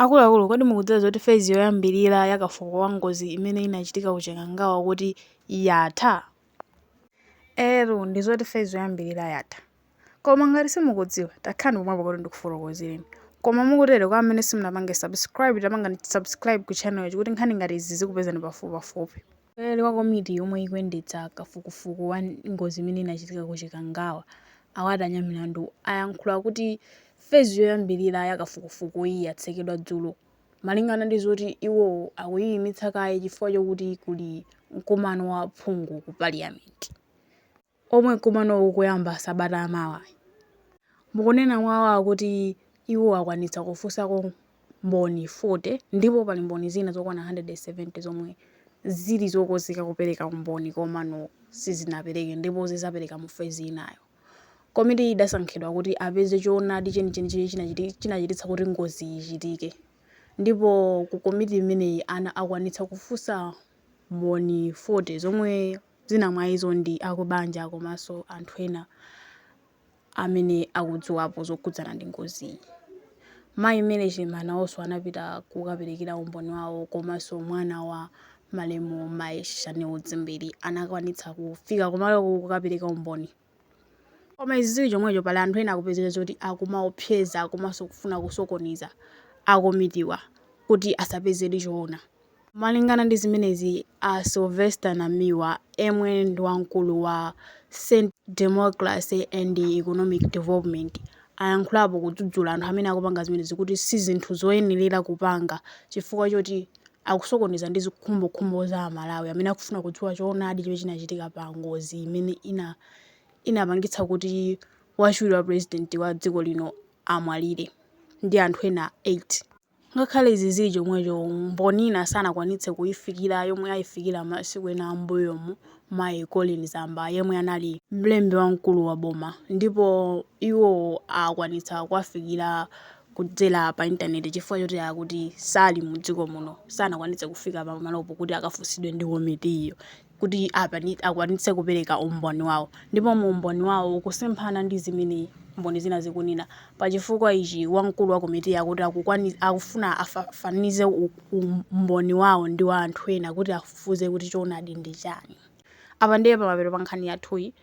Akuluakulu, kodi mukudziwa zoti fezi yoyambirira ya kafukufuku wa ngozi imene inachitika ku Chikangawa kuti yatha? Eeetu, ndi zoti fezi yoyambirira yatha. Koma ngati simukudziwa, takhalani pomwepo kuti ndikufotokozereni. Koma mukutere, kwa amene simunapange subscribe, tapangani subscribe ku channel-chi kuti nkhani ngati izi zikupezani pafupipafupi. Mtsogoleri wa komiti yomwe ikuyendetsa kafukufuku wa ngozi imene inachitika ku Chikangawa, a Walter Nyamilandu, ayankhula kuti fezi yoyambilira ya kafukufukuyi yatsekedwa dzulo malingana ndi zoti iwo akuyiyimitsa kaye chifukwa chokuti kuli mkumano wa aphungu ku paliyamenti. omwe nkumanowu ukuyamba sabata ya mawa. Mukunena kwawo kuti iwo akwanitsa kufunsako mboni 40 ndipo pali mboni zina zokwana 170 zomwe zili zokonzeka kupereka umboni komano sizinapereke ndipo zizapereka mu fezi inayo. Komitiyi idasankhidwa kuti apeze choonadi chenicheni chimene chinachititsa kuti ngoziyi ichitike ndipo ku komiti imeneyi akwanitsa kufunsa mboni 40 zomwe. Zina mwa izo ndi akubanja komanso anthu ena amene akudziwapo zokhudzana ndi ngoziyi. Mayi Mary Chilima nawonso anapita kukaperekera umboni wawo komanso mwana wa malemu mayi Shanil Dzimbiri anakwanitsa kufika kumaloku kukapereka umboni. Koma izi zili chomwecho, pali anthu ena akupezeka zoti akumaopseza komanso kufuna kusokoneza a komitiwa kuti asapezedi choona. Malingana ndi zimenezi, a Sylvester Namiwa yemwe ndi wamkulu wa Centre Democracy and Economic Development ayankhulapo kudzudzula anthu amene akupanga zimenezi kuti si zinthu zoyenerera kupanga chifukwa choti akusokoneza ndi zikhumbokhumbo za Amalawi amene akufuna kudziwa choonadi chimene chinachitika pa ngozi imene inapangitsa kuti wachiwiri wa pulezidenti wa dziko lino amwalire ndi anthu ena 8. Ngakhale izi zili chomwecho, Mboni ina sanakwanitse kuifikira yomwe aifikira masiku ena a m'mbuyomu, mayi Colleen Zamba, yemwe anali mlembi wamkulu wa boma, ndipo iwo akwanitsa kuwafikira kudzera pa intaneti chifukwa choti akuti sali mu dziko muno, sanakwanitse kufika pa malopo kuti akafunsidwe ndi komitiyo. kuti akwanitse kupereka umboni wawo ndipo mu umboni wawo ukusemphana ndi zimene mboni zina zikunena. Pa chifukwa ichi, wamkulu wa komitiyi akuti akufuna afananize umboni wawo ndi wa anthu ena kuti afufuze kuti choonadi ndi chani. Apa ndiye pamapeto pa nkhani yathuyi.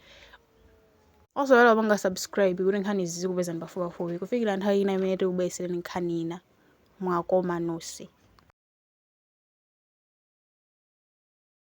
Osaiwala kupanga subscribe kuti nkhani izi zikupezani pafupipafupi. Kufikira nthawi ina imene tikubweretsereni nkhani ina, mwakoma nonse.